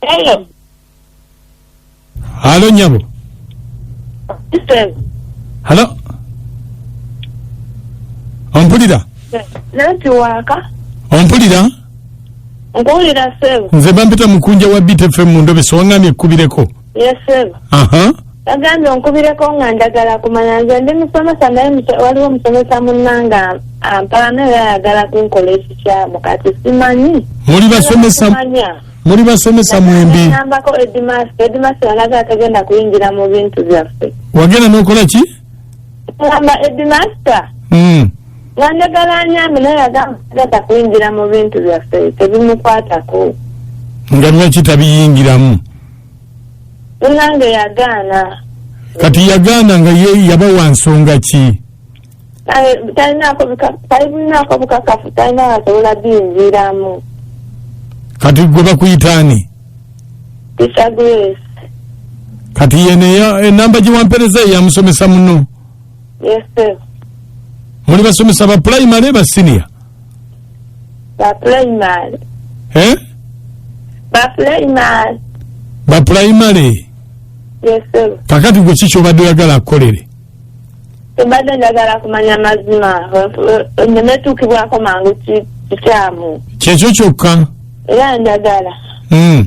Hello. halo nyabo Listen. halo ompulira Nanti waka. ompulira Nkuwulira sebo. nze bampita mukunja wa btfm mu ndobeso waŋŋamye ekkubireko yesebo aha yagambye onkubireko nga njagala kumanya nze ndi musomesa naye muse- waliwo omusomesa munnange ampaana era ayagala kunkola ekikyamu kati simanyi muli basomesa Simanya. muli basomesa mwembi Nambako Edmas, Edmas alaga atagenda kuyingira mu bintu byaffe. wagenda nokola ki Ngamba Edmas Mm. nga njagala anyambe naye agamba atagenda kuyingira mu bintu byaffe tebimukwatako. nga lwaki tabiyingiramu munange yagaana kati yagaana nga ye yaba wa nsonga ki talinako bukakafu talina asobola biyingiiramu kati gwe bakuyitaani tisa grace kati yene enamba gyewampereza eyamusomesa muno muli basomesa ba pulayimale ba siniya ba primary eh? ba primary ba primary yes sir kakati gwe ki kyobadde oyagala akukolere tebadde njagala kumanya mazima nemetuukibwako mangu ki- kikyamu kyekyo kyokka era njagala mm.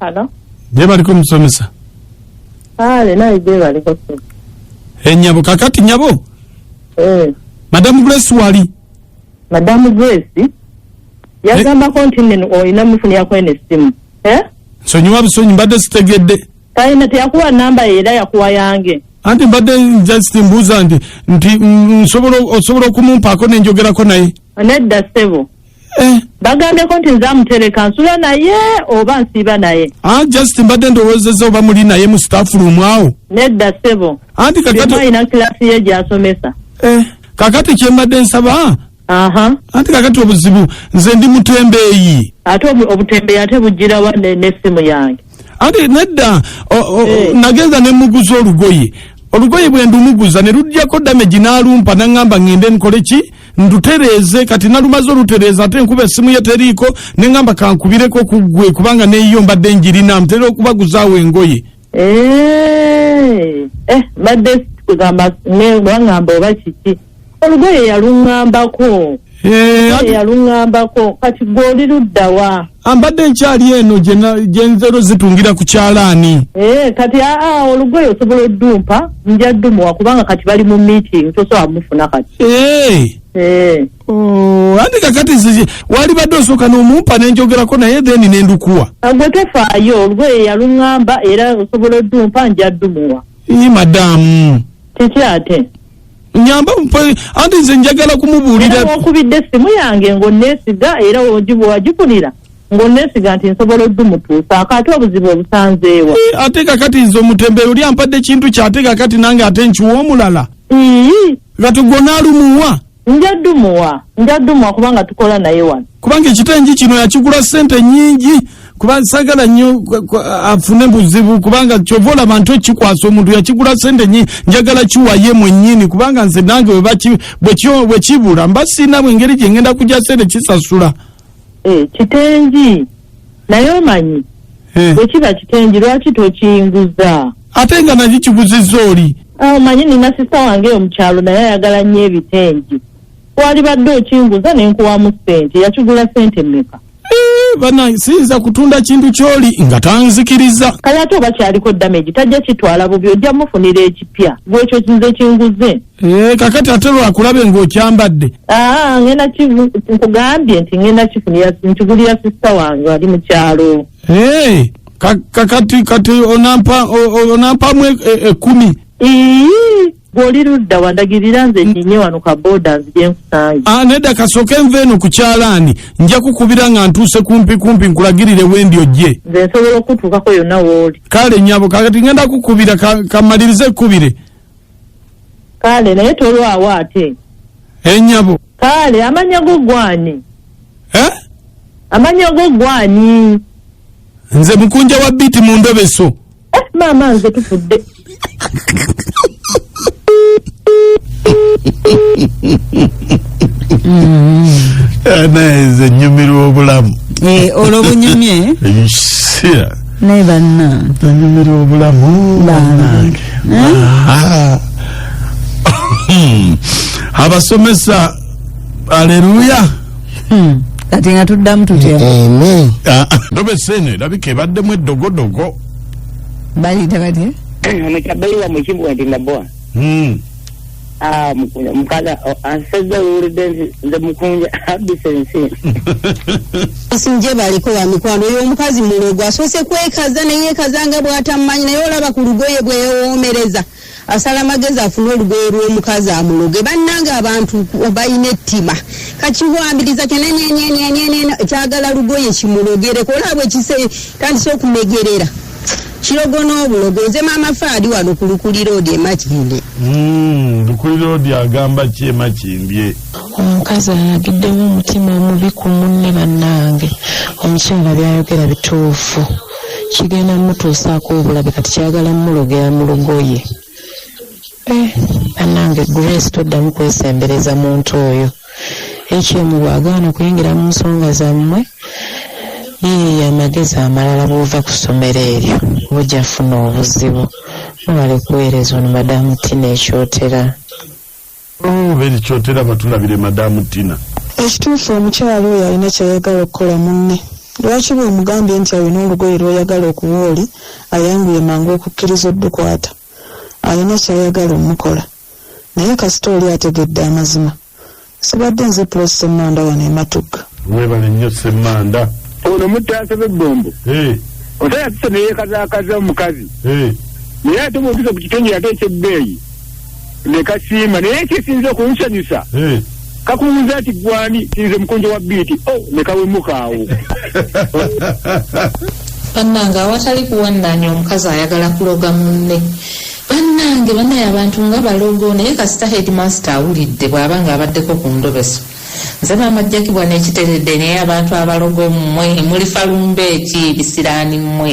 Hello. Jebaliko omusomesa. Kale naye jebaliko. Eh nyabo kakati nyabo. Eh. Madam Grace wali. Madam Grace. Eh? Yagamba continent o ina mufuni yako ene simu. Eh? So nyuwa bisonyi mbade sitegede. Kale nati yakuwa namba ila yakuwa yange. Anti mbade just mbuza anti. Nti msobolo osobolo kumumpako nenjogera kona hii. Aneda sebo. eh, bagambeko nti nze amutereka nsula naye oba nsiiba naye ah, just mbadde ndowozeza oba muli naye mu staff room awo nedda sebo anti kakati byemwalina kilasi ye gyasomesa eh, kakati kyembadde nsaba aha anti kakati obuzibu nze ndi mutembeeyi ate obu- obutembeeyi ate bujjirawa ne- n'essimu yange ate nedda o- o- Eh. nagenza ne muguza olugoye olugoye bwe ndumuguza ne lujjako damage n'alumpa naŋŋamba ŋŋende nkole ki ndutereeze kati nalumaze olutereeza ate nkuba essimu ye teriiko ne ŋŋamba kankubireko ku ggwe kubanga neeyiyo mbadde njirina ntera okubaguzaawo engoye Eh, eh, mbadde kugamba ne bangamba oba kiki olugoye yaluŋŋambako Eh, olugoye ati- yaluŋŋambako kati gwe oli luddawa ah, mbadde nkyali eno gye na- gye nzero zitungira ku kyalaani Eh, kati aa olugoye osobola oddumpa nja ddumuwa kubanga kati bali mu meeting tosobola mufuna kati Eh, Eh, oh, anti kakati zizi- walibadde osooka n'omumpa ne njogerako naye then ne ndukuwa gwe tefaayo olugoye yaluŋŋamba era osobola oddumpa nja ddumuwa ii madamu kiki ate nyamba mpo- anti nze njagala era kumubuulira w'okubidde essimu yange ng'onneesiga era wogi- wagifunira ng'onneesiga nti nsobola oddumutuusaako ate obuzibu obusanzeewa Eh, ate kakati nze omutembere oli ampadde ekintu kye ate kakati nange ate nkiwa omulala ii kati gwe onaalumuwa nja ddumuwa nja ddumuwa kubanga tukola naye wano kubanga ekitengi kino yakigula ssente nyingi kuba sagala nnyo kwa- kwa- afune buzibu kubanga kyova olaba nti okikwasa omuntu yakigula sente nyingi njagala kiwaye mwenyini kubanga nze nange bwe baki- bwe kyo- bwe kibula mba siina bwengeri gye ngenda kugya sente kisasula Eh, kitengi naye omanyi Eh. bwe kiba kitengi lwaki tokinguza ate nga nakyo kiguzizza oli Ah, omanyi nina sista wange yo mukyalo naye ayagala nnyo ebitengi twalibadde okinguza nenkuwamu sente yakigula sente meka Eh, banange siyinza kutunda kintu kyoli nga tanzikiriza kale ate oba kyaliko damage tajja kitwala bubi ojja mufunira ekipya gwekyo kinze kinguze Eh, kakati ate lwakulabe ng'okyambadde aa ngenda kivu- nkugambye nti ngenda kifunira nkigulira sisita wange ali mu kyalo Eh, ka- kakati kati onampa o- o- onampamu e- e- ekumi Ii, gwoli ludda wandagirira nze nyinye wano ka boda nzije nkusange Ah, nedda kasooke nva eno ku kyalaani nja kukubira nga ntuuse kumpi kumpi nkulagirire wendi ojje nze nsobola okutuukako yonna wooli kale nyabo kakati ngenda kukubira ka- kamalirize ekkubire kale naye tolwawo ate enyabo kale amanya go gwani eh? amanya go gwani nze mukunja wa biiti mu ndobeso Eh, maama nze tufudde Eh, naye nze nyumirwa obulamu Eh, olwo bunyumye ekisira naye banna nyumirwa obulamu bannange Aha. abasomesa aleluya Hmm. kati nga tuddamu tutya amen Ah, ah. ndobesa eno erabika ebaddemu eddogodogo balita batya omukyabbeyi wa mukibwa nti naboa Hmm. Ah, Mukunja- mukaga oh, ansezza owulidde nti nze mukunja abisa ensi sinje baliko wa mikwano oyo omukazi mulogo asoose kwekaza neyekaza nga bwatamumanyi naye olaba ku lugoye bweyewoomereza asala amagezi afune olugoye lw'omukazi amuloge bannange abantu balina ettima kakiwambiriza kyenenyenyenyenyenyen kyagala lugoye kimulogereko olaba ekise tandise okumegerera kirogo n'obulogo nze maama faadi wano ku lukulira odi emakinde hmm, lukulira odi agamba ki emakimbye omukazi alagiddewo omutima omubi ku munne bannange omukyala byayogera bituufu kigenda mutuusaako obulabe kati kyagala mulogera mu lugoye eh, banange grace toddamu kwesembereza muntu oyo ekyemu bwagaana okuyingira mu nsonga zammwe yeye amagezi amalala bwova ku ssomero eryo bujja funa obuzibu mwebale kuweereza ono madamu tina ekyotera Oh, beri kyotera batulabire madamu tina ekituufu omukyalo oyo alina kyayagala okukola munne lwaki bwemugambye nti alina olugoye lwoyagala okuwa oli ayanguye mangu okukkiriza oddukwata alina kyayagala omukola naye kasita oli ategedde amazima sibadde nze pulosi semmanda wano ematugga webale nnyo semmanda ono mutaasa bebbombo eh. omusajja tuse neyekazakaza omukazi eh. naye ate bwotusa ku kitongole ate ekyebbeeyi ne kasiima naye ekisinze okunsanyusa Eh. kakubuuza nti gwani tinze mukunjo wa biiti o ne kawemuka awo bannange awatali kuwannaanya omukazi ayagala kuloga munne bannange banaye abantu nga balogo naye kasita headmaster awulidde bw'aba ng'abaddeko ku ndobeso Nze maama Jackie bwa nekiteredde naye abantu abalogo mmwe mulifa lumbe ki bisiraani mmwe.